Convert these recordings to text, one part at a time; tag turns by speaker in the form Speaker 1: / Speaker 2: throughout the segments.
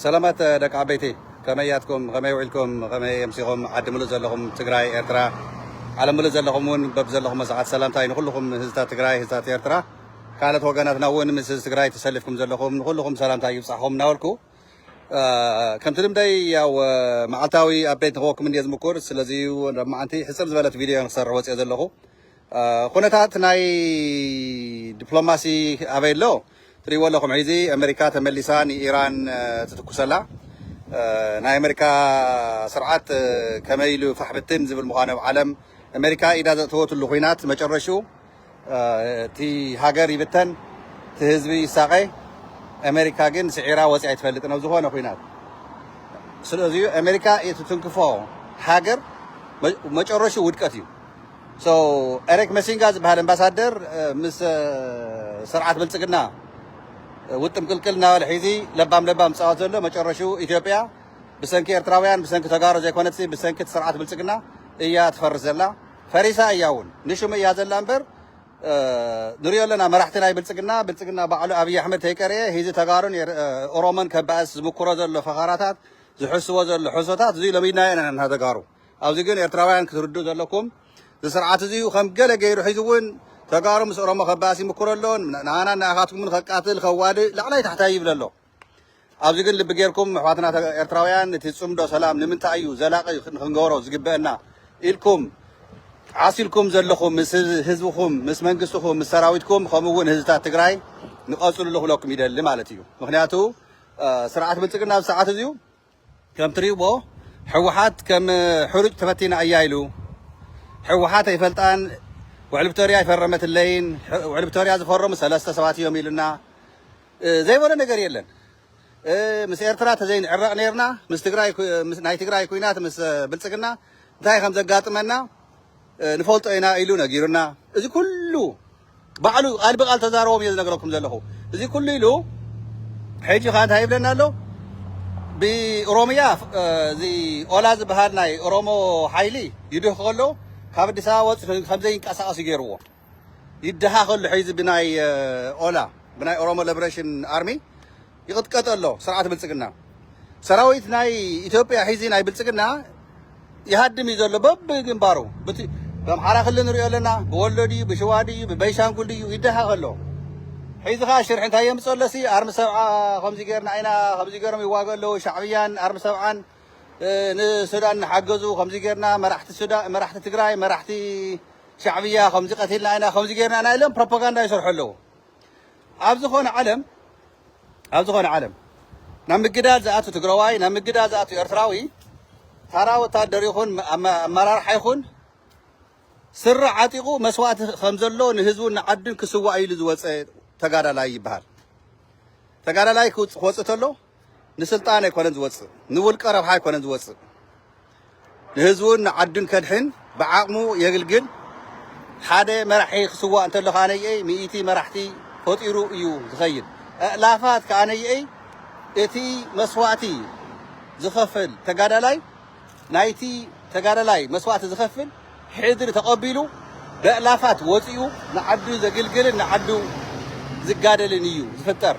Speaker 1: ሰላማት ደቂ ዓበይቲ ከመይ ያትኩም ከመይ ውዒልኩም ከመይ የምሲኹም ዓዲ ምሉእ ዘለኹም ትግራይ ኤርትራ ዓለም ምሉእ ዘለኹም እውን በብዘለኹም ሰዓት ሰላምታይ ንኩልኹም ህዝታት ትግራይ ህዝታት ኤርትራ ካልኦት ወገናትና እውን ምስ ህዝቢ ትግራይ ተሰሊፍኩም ዘለኹም ንኩልኹም ሰላምታይ ይብፃሕኹም እናበልኩ ከምቲ ልምደይ ያው መዓልታዊ ኣቤት ንክወኩም እንዲየ ዝምኩር ስለዚ ናብ መዓንቲ ሕፅር ዝበለት ቪድዮ ንክሰርሕ ወፅኦ ዘለኹ ኹነታት ናይ ድፕሎማሲ ኣበይ ኣሎ ትሪእዎ ኣለኹም ሒዚ ኣመሪካ ተመሊሳ ንኢራን ትትኩሰላ ናይ ኣመሪካ ስርዓት ከመይ ኢሉ ፋሕ ብትን ዝብል ምዃኑ ኣብ ዓለም ኣመሪካ ኢዳ ዘእተወትሉ ኹናት መጨረሽኡ እቲ ሃገር ይብተን እቲ ህዝቢ ይሳቐ ኣመሪካ ግን ስዒራ ወፂኣ ኣይትፈልጥን ኣብ ዝኾነ ኹናት ስለዚ ኣመሪካ የትትንክፎ ሃገር መጨረሽኡ ውድቀት እዩ። ኤሪክ መሲንጋ ዝበሃል ኣምባሳደር ምስ ስርዓት ብልፅግና ውጥም ቅልቅል እናበለ ሒዚ ለባም ለባም ዝፃወት ዘሎ መጨረሽኡ ኢትዮጵያ ብሰንኪ ኤርትራውያን ብሰንኪ ተጋሩ ዘይኮነትሲ ብሰንኪ እቲ ስርዓት ብልፅግና እያ ትፈርስ ዘላ ፈሪሳ እያ እውን ንሽሙ እያ ዘላ እምበር ንሪኦ ኣለና መራሕቲ ናይ ብልፅግና ብልፅግና ባዕሉ ኣብዪ ኣሕመድ ተይቀረየ ሂዚ ተጋሩን ኦሮሞን ከባእስ ዝምክሮ ዘሎ ፈኸራታት ዝሕስቦ ዘሎ ሕሶታት እዙይ ሎሚድናዮ ኢና ተጋሩ ኣብዚ ግን ኤርትራውያን ክትርድኡ ዘለኩም እዚ ስርዓት እዚ ከም ገለ ገይሩ ሒዙ እውን ተጋሩ ምስ ኦሮሞ ከባእስ ይምክሮ ኣሎ ንሃናን ንኣኻትኩምን ከቃትል ከዋድእ ላዕላይ ታሕታይ ይብል ኣሎ ኣብዚ ግን ልቢ ጌርኩም ኣሕዋትና ኤርትራውያን እቲ ጽምዶ ሰላም ንምንታይ እዩ ዘላቂ ንክንገበሮ ዝግበአና ኢልኩም ዓሲልኩም ዘለኹም ምስ ህዝብኹም ምስ መንግስትኹም ምስ ሰራዊትኩም ከምኡ እውን ህዝብታት ትግራይ ንቐፅልሉ ክብለኩም ይደሊ ማለት እዩ ምክንያቱ ስርዓት ብልፅግና ኣብ ሰዓት እዚዩ ከም ትሪኡዎ ሕወሓት ከም ሕሩጭ ተበቲና እያ ኢሉ ሕወሓት ኣይፈልጣን ውዕል ፕቶርያ ኣይፈረመትለይን ውዕል ፕቶርያ ዝፈረሙ ሰለስተ ሰባት እዮም ኢሉና ዘይበሎ ነገር የለን ምስ ኤርትራ ተዘይንዕረቕ ነርና ምስ ትግራይ ናይ ትግራይ ኩናት ምስ ብልፅግና እንታይ ከም ዘጋጥመና ንፈልጦ ኢና ኢሉ ነጊሩና እዚ ኩሉ ባዕሉ እዩ ቃል ብቃል ተዛረቦም እየ ዝነግረኩም ዘለኹ እዚ ኩሉ ኢሉ ሕጂ ከኣ እንታይ ይብለና ኣሎ ብኦሮምያ እዚ ኦላ ዝበሃል ናይ ኦሮሞ ሓይሊ ይድህ ከሎ ካብ ኣዲስ ኣበባ ወፂ ከምዘይንቀሳቀስ እዩ ገይርዎ ይደሃ ከሉ ሕዚ ብናይ ኦላ ብናይ ኦሮሞ ሊበሬሽን ኣርሚ ይቕጥቀጥ ኣሎ ስርዓት ብልጽግና። ሰራዊት ናይ ኢትዮጵያ ሒዚ ናይ ብልጽግና ይሃድም እዩ ዘሎ በብግንባሩ ብኣምሓራ ክልል ንሪኦ ኣለና ብወሎ ድዩ ብሽዋ ድዩ ብበይሻንጉል ድዩ ይደሃቕ ኣሎ ሒዚ ከዓ ሽርሒ እንታይ የምፅኦ ኣለሲ ኣርሚ ሰብዓ ከምዚ ገርና ኢና ከምዚ ገሮም ይዋገ ኣለዉ ሻዕብያን ኣርሚ ሰብዓን ንሱዳን ንሓገዙ ከምዚ ገርና መራሕቲ ሱዳ መራሕቲ ትግራይ መራሕቲ ሻዕብያ ከምዚ ቀቲልና ኢና ከምዚ ገርና ኢና ኢሎም ፕሮፓጋንዳ ይሰርሑ ኣለዉ ኣብ ዝኾነ ዓለም ኣብ ዝኾነ ዓለም ናብ ምግዳል ዝኣቱ ትግራዋይ ናብ ምግዳል ዝኣቱ ኤርትራዊ ታራ ወታደር ይኹን ኣመራርሓ ይኹን ስረ ዓጢቑ መስዋእቲ ከም ዘሎ ንህዝቡን ንዓዱን ክስዋእ ኢሉ ዝወፀ ተጋዳላይ ይበሃል። ተጋዳላይ ክወፅእ ተሎ ንስልጣን ኣይኮነን ዝወፅእ፣ ንውልቀ ረብሓ ኣይኮነን ዝወፅእ፣ ንህዝቡን ንዓዱን ከድሕን ብዓቕሙ የግልግል። ሓደ መራሒ ክስዋእ እንተሎ ከኣ ነይኤይ ሚኢቲ መራሕቲ ፈጢሩ እዩ ዝኸይድ። ኣእላፋት ከኣ ነይኤይ እቲ መስዋእቲ ዝኸፍል ተጋዳላይ ናይቲ ተጋዳላይ መስዋእቲ ዝኸፍል ሕድሪ ተቐቢሉ በእላፋት ወጺኡ ንዓዱ ዘግልግልን ንዓዱ ዝጋደልን እዩ ዝፍጠር።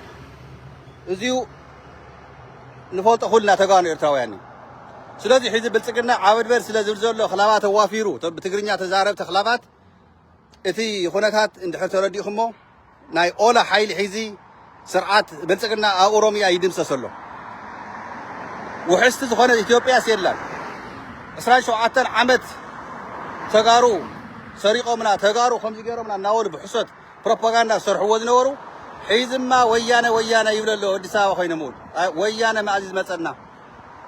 Speaker 1: እዚዩ ንፈልጦ ኩልና ተጋኑ ኤርትራውያን እዩ። ስለዚ ሕዚ ብልጽግና ዓበድበድ ስለ ዝብል ዘሎ ክላባት ኣዋፊሩ፣ እቶም ብትግርኛ ተዛረብቲ ክላባት እቲ ኹነታት እንድሕር ተረዲእኹሞ ናይ ኦላ ሓይሊ ሒዚ ስርዓት ብልፅግና ኣብ ኦሮሚያ ይድምሰስ ኣሎ። ውሕስቲ ዝኾነት ኢትዮጵያስ የላን። ዕስራን ሸውዓተን ዓመት ተጋሩ ሰሪቆምና ተጋሩ ከምዚ ገይሮምና እናበሉ ብሕሶት ፕሮፓጋንዳ ዝሰርሕዎ ዝነበሩ ሒዝማ ወያነ ወያነ ይብለ ኣሎ ኣዲስ ኣበባ ኮይኖም እውን ወያነ መኣዚ ዝመፀና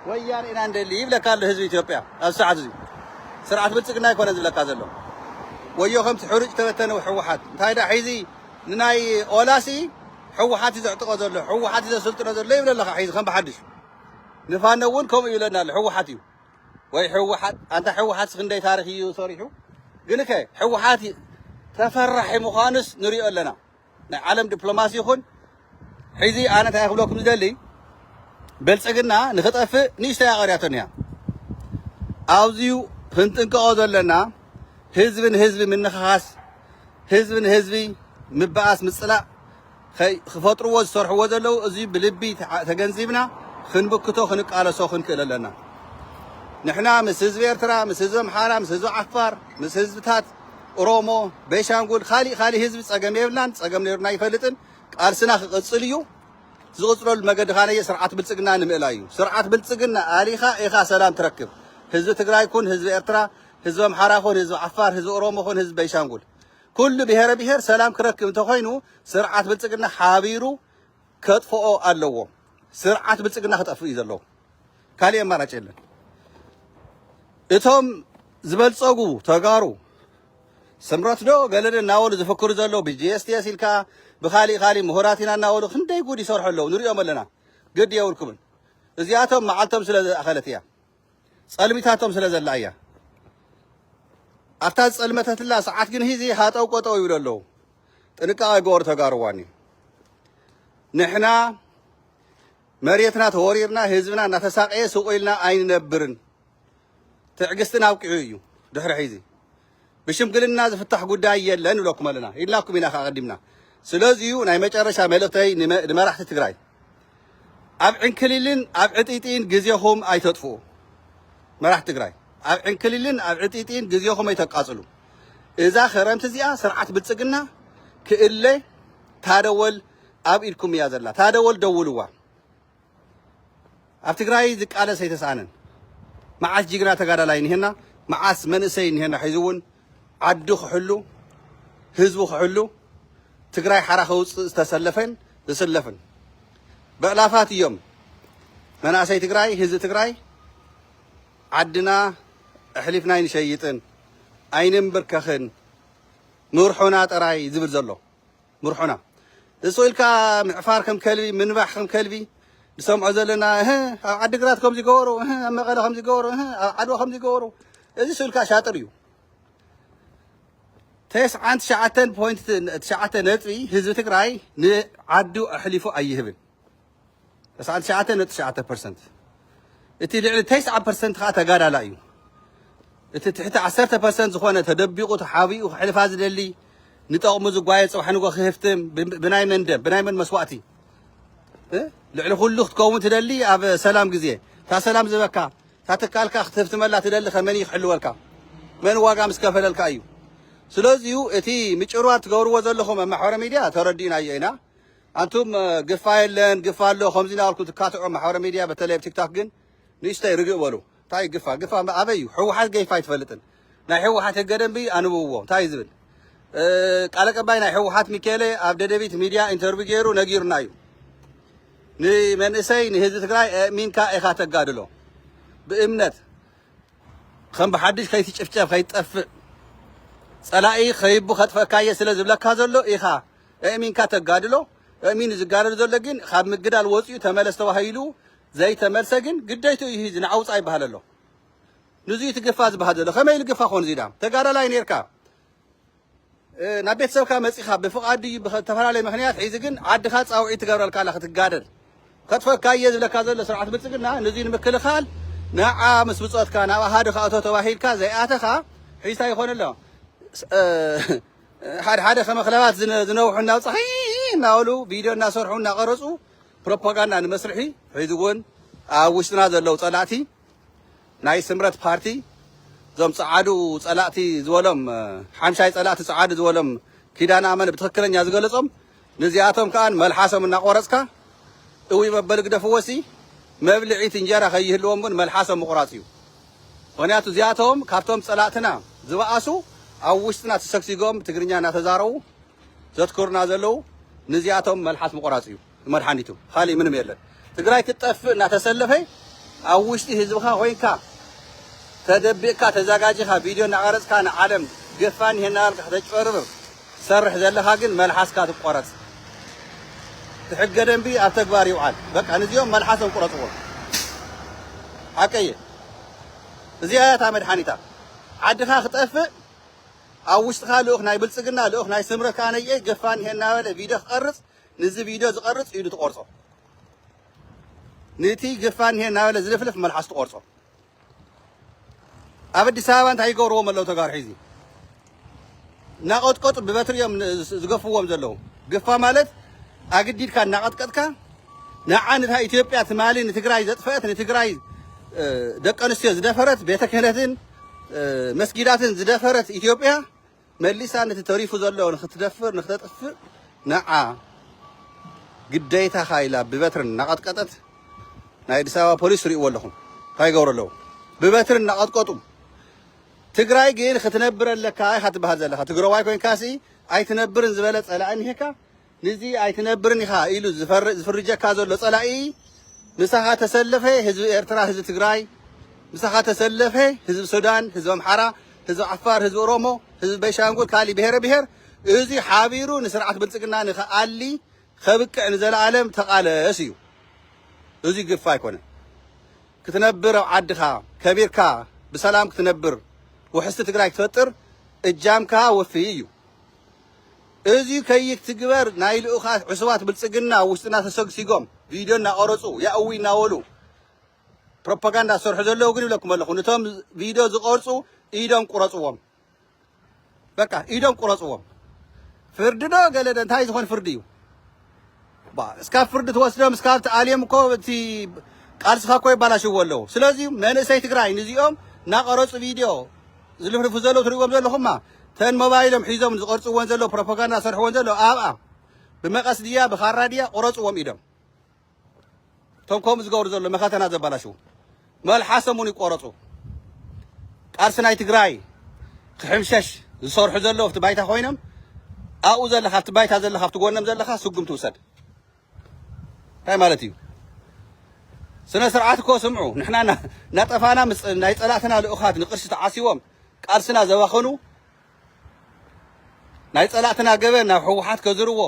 Speaker 1: ወያነ ኢና ንደሊ ይብለካ ኣሎ ህዝቢ ኢትዮጵያ ኣብዚ ሰዓት እዙይ ስርዓት ብልፅግና ኣይኮነን ዝብለካ ዘሎ ወዮ ከምቲ ሕሩጭ ዝተበተነ ሕወሓት እንታይ ዳ ሒዚ ንናይ ኦላሲ ሕወሓት እዩ ዘዕጥቆ ዘሎ ሕወሓት እዩ ዘሰልጥኖ ዘሎ ይብለ ኣለካ ሒዚ ከም ብሓድሽ ንፋኖ እውን ከምኡ ይብለና ኣሎ ሕወሓት እዩ ወይ ሕወሓት ኣንታ ሕወሓት ክንደይ ታሪክ እዩ ሰሪሑ ግን ከ ሕወሓት ተፈራሒ ምዃኑስ ንሪኦ ኣለና ናይ ዓለም ድፕሎማሲ ይኹን ሕዚ ኣነ እንታይ ክብለኩም ዝደሊ ብልፅግና ንክጠፍእ ንእሽተይ ኣቐርያቶን እያ ኣብዚዩ ክንጥንቀቆ ዘለና ህዝቢ ንህዝቢ ምንኽኻስ ህዝቢ ንህዝቢ ምበኣስ ምፅላእ ክፈጥርዎ ዝሰርሕዎ ዘለዉ እዚ ብልቢ ተገንዚብና ክንብክቶ ክንቃለሶ ክንክእል ኣለና ንሕና ምስ ህዝቢ ኤርትራ ምስ ህዝቢ ኣምሓራ ምስ ህዝቢ ዓፋር ምስ ህዝብታት ኦሮሞ፣ ቤንሻንጉል፣ ካሊእ ካሊእ ህዝቢ ፀገም የብልናን፣ ፀገም ነይሩና ኣይፈልጥን፣ ቃልስና ክቕፅል እዩ፣ ዝቕፅለሉ መገዲ ካነየ ስርዓት ብልፅግና ንምእላይ እዩ፣ ስርዓት ብልፅግና ኣሊኻ ኢኻ ሰላም ትረክብ፣ ህዝቢ ትግራይ ኩን ህዝቢ ኤርትራ፣ ህዝቢ ኣምሓራ ኩን ህዝቢ ዓፋር፣ ህዝቢ ኦሮሞ ኩን ህዝቢ ቤንሻንጉል ኩሉ ብሄረ ብሄር ሰላም ክረክብ እንተኾይኑ ስርዓት ብልፅግና ሓቢሩ ከጥፍኦ ኣለዎ ስርዓት ብልፅግና ክጠፍእ እዩ ዘለዎ ካሊእ ኣማራጭ የለን እቶም ዝበልፀጉ ተጋሩ ስምረት ዶ ገለደ እናበሉ ዝፍክሩ ዘለዉ ብጂኤስቲኤስ ኢልካ ብካሊእ ካሊእ ምሁራት ኢና እናበሉ ክንደይ ጉድ ይሰርሑ ኣለዉ ንሪኦም ኣለና ግድ የብልኩምን እዚኣቶም መዓልቶም ስለ ዝኣኸለት እያ ጸልሚታቶም ስለ ዘላ እያ። ኣብታ ዝጸልመተትላ ሰዓት ግን ሂዚ ሃጠው ቆጠው ይብሉ ኣለዉ። ጥንቃቐ ገበሩ ተጋሩዋኒ ንሕና መሬትና ተወሪርና ህዝብና እናተሳቀየ ስቑኢልና ኣይንነብርን። ትዕግስትን ኣብቂዑ እዩ ድሕሪ ሕዚ ብሽምግልና ዝፍታሕ ጉዳይ የለን ንብለኩም ኣለና ኢልናኩም ኢና ከኣ ኣቀዲምና ስለዚዩ ናይ መጨረሻ መልእክተይ ንመራሕቲ ትግራይ ኣብ ዕንክሊልን ኣብ ዕጢጢን ግዜኹም ኣይተጥፍኡ መራሕቲ ትግራይ ኣብ ዕንክሊልን ኣብ ዕጢጢን ግዜኹም ኣይተቃጽሉ እዛ ክረምቲ እዚኣ ስርዓት ብልጽግና ክእለ ታደወል ኣብ ኢድኩም እያ ዘላ ታደወል ደውልዋ ኣብ ትግራይ ዝቃለስ ኣይተስኣነን መዓስ ጅግና ተጋዳላይ እኒሀና መዓስ መንእሰይ እኒሀና ሒዙ እውን ዓዱ ክሕሉ ህዝቡ ክሕሉ ትግራይ ሓራ ከውፅእ ዝተሰለፈን ዝስለፍን በዕላፋት እዮም መናእሰይ ትግራይ ህዝቢ ትግራይ ዓድና ኣሕሊፍና ኣይንሸይጥን ኣይንንብርከኽን ምርሖና ጥራይ ዝብል ዘሎ ምርሑና እሱ ኢልካ ምዕፋር ከም ከልቢ ምንባሕ ከም ከልቢ ንሰምዖ ዘለና እህ ኣብ ዓዲግራት ከምዚ ገበሩ እህ ኣብ መቐለ ከምዚ ገበሩ እህ ኣብ ዓድዋ ከምዚ ገበሩ እዚ ስእልካ ሻጥር እዩ ተስዓን ትሽዓተን ፖይንት ትሽዓተ ነጥቢ ህዝቢ ትግራይ ንዓዱ ኣሕሊፉ ኣይህብን ተስዓን ትሽዓተን ነጥቢ ትሽዓተ ፐርሰንት እቲ ልዕሊ ተስዓ ፐርሰንት ከዓ ተጋዳላይ እዩ። እቲ ትሕቲ ዓሰርተ ፐርሰንት ዝኾነ ተደቢቑ ተሓቢኡ ክሕልፋ ዝደሊ ንጠቕሙ ዝጓየ ፅባሕ ንጎ ክህፍትም ብናይ መን ደም ብናይ መን መስዋእቲ ልዕሊ ኩሉ ክትከውን ትደሊ ኣብ ሰላም ግዜ እታ ሰላም ዝበካ እታ ትካልካ ክትህፍትመላ ትደሊ ከመን እዩ ክሕልወልካ መን ዋጋ ምስ ከፈለልካ እዩ ስለዚዩ እቲ ምጭርዋር ትገብርዎ ዘለኹም ኣብ ማሕበረ ሚድያ ተረዲእናዮ ኢና ኣንቱም ግፋ የለን ግፋ ኣሎ ከምዚ ናበልኩም ትካትዑ ማሕበራዊ ሚድያ በተለይ ኣብ ቲክታክ ግን ንእሽተይ ርግእ በሉ እንታይ እዩ ግፋ ግፋ ኣበይ እዩ ሕወሓት ገይፋ ኣይትፈልጥን ናይ ሕወሓት ህገ ደንቢ ኣንብብዎ እንታይ እዩ ዝብል ቃል ኣቀባይ ናይ ሕወሓት ሚካኤለ ኣብ ደደቢት ሚድያ ኢንተርቪው ገይሩ ነጊሩና እዩ ንመንእሰይ ንህዝቢ ትግራይ ኣእሚንካ ኢኻ ተጋድሎ ብእምነት ከም ብሓድሽ ከይትጭፍጨፍ ከይትጠፍእ ጸላኢ ከይቡ ከጥፈካየ ስለ ዝብለካ ዘሎ ኢኻ እእሚንካ ተጋድሎ እእሚኑ ዝጋደል ዘሎ ግን ካብ ምግዳል ወፂኡ ተመለስ ተባሂሉ ዘይተመልሰ ግን ግደይትኡ እዩ ህዚ ንዓውፃ ይበሃል ኣሎ ንዙይ እቲ ግፋ ዝበሃል ዘሎ ከመይ ኢሉ ግፋ ኮን እዚዳ ተጋዳላይ ነርካ ናብ ቤተሰብካ መፂኻ ብፍቓድ እዩ ብተፈላለየ ምክንያት ሒዚ ግን ዓድኻ ፃውዒ ትገብረልካ ኣላ ክትጋደል ከጥፈካ እየ ዝብለካ ዘሎ ስርዓት ብልፅግና ንዙይ ንምክልኻል ንዓ ምስ ብፆትካ ናብ ኣሃዱ ካእቶ ተባሂልካ ዘይኣተኻ ሒዝታ ይኾን ኣሎ ሓደ ሓደ ከመ ክለባት ዝነውሑ ናብ ፀሓይ እናበሉ ቪድዮ እናሰርሑ እናቐረፁ ፕሮፓጋንዳ ንመስርሒ ሕዚ እውን ኣብ ውሽጥና ዘለው ፀላእቲ ናይ ስምረት ፓርቲ እዞም ፀዓዱ ፀላእቲ ዝበሎም ሓምሻይ ፀላእቲ ፀዓዱ ዝበሎም ኪዳነ ኣመነ ብትክክለኛ ዝገለፆም ንዚኣቶም ከኣ መልሓሶም እናቆረጽካ እውይ መበሊ ግደፍዎሲ መብልዒት እንጀራ ከይህልዎም ውን መልሓሶም ምቁራጽ እዩ ምክንያቱ እዚኣቶም ካብቶም ጸላእትና ዝባኣሱ ኣብ ውሽጥና ተሰግሲጎም ትግርኛ እናተዛረቡ ዘትኩሩና ዘለዉ ንዚኣቶም መልሓስ ምቁራጽ እዩ መድሓኒቱ ካሊእ ምንም የለን። ትግራይ ክትጠፍእ እናተሰለፈ ኣብ ውሽጢ ህዝብኻ ኮይንካ ተደቢቕካ ተዛጋጂኻ ቪድዮ እናቐረፅካ ንዓለም ገፋ እኒሀ እናበልካ ከተጭበርብር ትሰርሕ ዘለኻ ግን መልሓስካ ትቆረፅ ትሕገ ደንቢ ኣብ ተግባር ይውዓል በቃ ንዚኦም መልሓሶም ቁረፅዎም ሓቀየ እዚኣ እያ እታ መድሓኒታ ዓድኻ ክጠፍእ ኣብ ውሽጥኻ ልኡኽ ናይ ብልፅግና ልኡኽ ናይ ስምረት ኣነየ ገፋ እኒሀ እናበለ ቪድዮ ክቐርፅ ንዚ ቪድዮ ዝቐርጽ ኢዱ ትቖርጾ። ንቲ ጅፋን እኒሀ እናበለ ዝልፍልፍ መልሓሱ ትቖርጾ። ኣብ ኣዲስ ኣበባ እንታይ ይገብርዎም ኣለዉ ተጋሩ ሒዚ እናቐጥቀጡ ብበትሪ እዮም ዝገፍዎም ዘለዉ። ግፋ ማለት ኣግዲድካ እናቐጥቀጥካ ንዓ ንታ ኢትዮጵያ ትማሊ ንትግራይ ዘጥፈአት ንትግራይ ደቂ ኣንስትዮ ዝደፈረት ቤተ ክህነትን መስጊዳትን ዝደፈረት ኢትዮጵያ መሊሳ ነቲ ተሪፉ ዘሎ ንኽትደፍር ንኽተጥፍእ ንዓ ግደይታኻ ኢላ ብበትሪ እናቐጥቀጠት ናይ ኣዲስ ኣበባ ፖሊስ ትሪእዎ ኣለኹም እንታይ ይገብሩ ኣለዉ ብበትሪ እናቐጥቀጡ ትግራይ ግን ክትነብር ኣለካ ኢኻ ትበሃል ዘለኻ ትግራዋይ ኮይንካሲ ኣይትነብርን ዝበለ ጸላኢ እኒሄካ ንዚ ኣይትነብርን ኢኻ ኢሉ ዝፍርጀካ ዘሎ ጸላኢ ምሳኻ ተሰለፈ ህዝቢ ኤርትራ ህዝቢ ትግራይ ምሳኻ ተሰለፈ ህዝቢ ሱዳን ህዝቢ ኣምሓራ ህዝቢ ዓፋር ህዝቢ ኦሮሞ ህዝቢ ቤንሻንጉል ካሊ ብሄረ ብሄር እዚ ሓቢሩ ንስርዓት ብልጽግና ንክኣሊ ከብቅዕ ንዘለኣለም ተቓለስ እዩ እዚ ግፍ ኣይኮነን ክትነብር ኣብ ዓድኻ ከቢርካ ብሰላም ክትነብር ውሕስቲ ትግራይ ክትፈጥር እጃምካ ወፍይ እዩ እዚ ከይትግበር ናይ ልኡኻት ዕሱባት ብልጽግና ኣብ ውሽጥና ተሰግሲጎም ቪድዮ እናቐረጹ ያእውይ እናበሉ ፕሮፓጋንዳ ዝሰርሑ ዘለዉ ግን ይብለኩም ኣለኹ ንቶም ቪድዮ ዝቐርጹ ኢዶም ቁረጽዎም በቃ ኢዶም ቁረጽዎም ፍርዲ ዶ ገለ ዶ እንታይ ዝኾን ፍርዲ እዩ እባ እስካብ ፍርዲ ትወስዶም እስካብ ትኣልዮም እኮ እቲ ቃልስኻ እኮ የባላሽዎ ኣለዉ ስለዚ መንእሰይ ትግራይ ንዚኦም ናቐረፁ ቪድዮ ዝልፍልፉ ዘለዉ ትሪእዎም ዘለኹማ ተን ሞባይሎም ሒዞም ዝቐርፅዎን ዘለዉ ፕሮፓጋንዳ ዝሰርሕዎን ዘለዉ ኣብኣ ብመቐስ ድያ ብኻራ ድያ ቑረፅዎም ኢዶም እቶም ከምኡ ዝገብሩ ዘሎ መኸተና ዘበላሽው መልሓሶም እውን ይቆረፁ። ቃልሲ ናይ ትግራይ ክሕምሸሽ ዝሰርሑ ዘለዉ ኣብቲ ባይታ ኮይኖም ኣብኡ ዘለካ ኣብቲ ባይታ ዘለካ ኣብቲ ጎኖም ዘለካ ስጉምቲ ውሰድ እንታይ ማለት እዩ? ስነ ስርዓት እኮ ስምዑ። ንሕና ናጠፋና ምስ ናይ ፀላእትና ልኡኻት ንቅርሲ ተዓሲቦም ቃልስና ዘባኸኑ ናይ ፀላእትና ገበን ናብ ህወሓት ከዝርዎ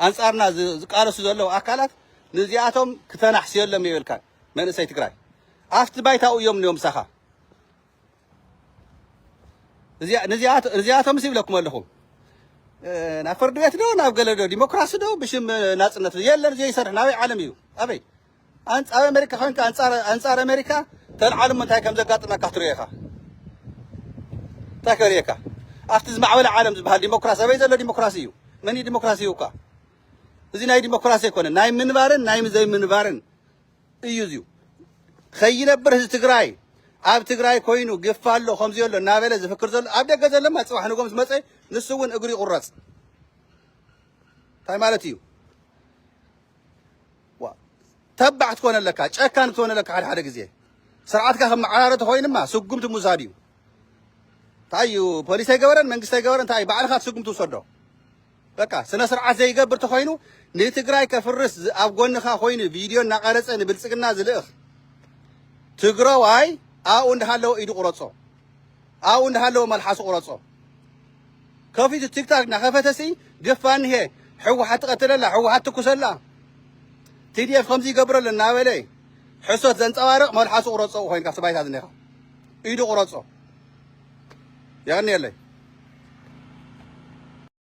Speaker 1: ኣንጻርና ዝቃለሱ ዘለዉ ኣካላት ንዚኣቶም ክተናሕስየሎም የብልካን መንእሰይ ትግራይ ኣብቲ ባይታኡ እዮም እኒኦም ምሳኻ ንዚኣቶምስ ይብለኩም ኣለኹ ናብ ፍርዲ ቤት ዶ ናብ ገለ ዶ ዲሞክራሲ ዶ ብሽም ናፅነት የለን ዘይሰርሕ ናበይ ዓለም እዩ ኣበይ ኣንጻር ኣመሪካ ኮንካ ኣንጻር ኣንጻር ኣመሪካ ተልዓል እሞ እንታይ ከም ዘጋጥመካ ትሪኦ ኢኻ እንታይ ከርእየካ ኣብቲ ዝማዕበለ ዓለም ዝበሃል ዲሞክራሲ ኣበይ ዘሎ ዲሞክራሲ እዩ መን እዩ ዲሞክራሲ ይውካ እዚ ናይ ዲሞክራሲ ኣይኮነ ናይ ምንባርን ናይ ዘይምንባርን እዩ እዚዩ ከይነብር ህዝቢ ትግራይ ኣብ ትግራይ ኮይኑ ግፋ ኣሎ ከምዚ ኣሎ እናበለ ዝፍክር ዘሎ ኣብ ደገ ዘለማ ፅባሕ ንጎም ዝመፀ ንሱ እውን እግሪ ይቁረፅ እንታይ ማለት እዩ ዋእ ተባዕ ክትኮን ኣለካ ጨካን ክትኮን ኣለካ ሓደ ሓደ ግዜ ስርዓትካ ከም መዓራረ ተኮይንማ ስጉምቲ ምውሳድ እዩ እንታይ እዩ ፖሊስ ኣይገበረን መንግስቲ ኣይገበረን እንታይ እዩ ባዕልካ ትስጉም ትውሰዶ በቃ ስነ ስርዓት ዘይገብር ተኮይኑ ንትግራይ ከፍርስ ዝ- ኣብ ጎንካ ኮይኑ ቪድዮ እናቀረፀ ንብልፅግና ዝልእኽ ትግራዋይ ኣብኡ እንዳሃለወ ኢዱ ቁረፆ ኣብኡ እንዳሃለወ መልሓሱ ቁረጾ ከፊቱ ቲክታክ እንዳከፈተ ሲ ግፍ ኣንሄ ሕወሓት ትቀትለላ ሕወሓት ትኩሰላ ቲዲኤፍ ከምዚ ይገብረሉ እናበለ ሕሶት ዘንጸባርቅ መልሓሱ ቁረጾ ኮይንካ ስባይታ ዝኔኻ ኢዱ ቁረጾ የቀንየለይ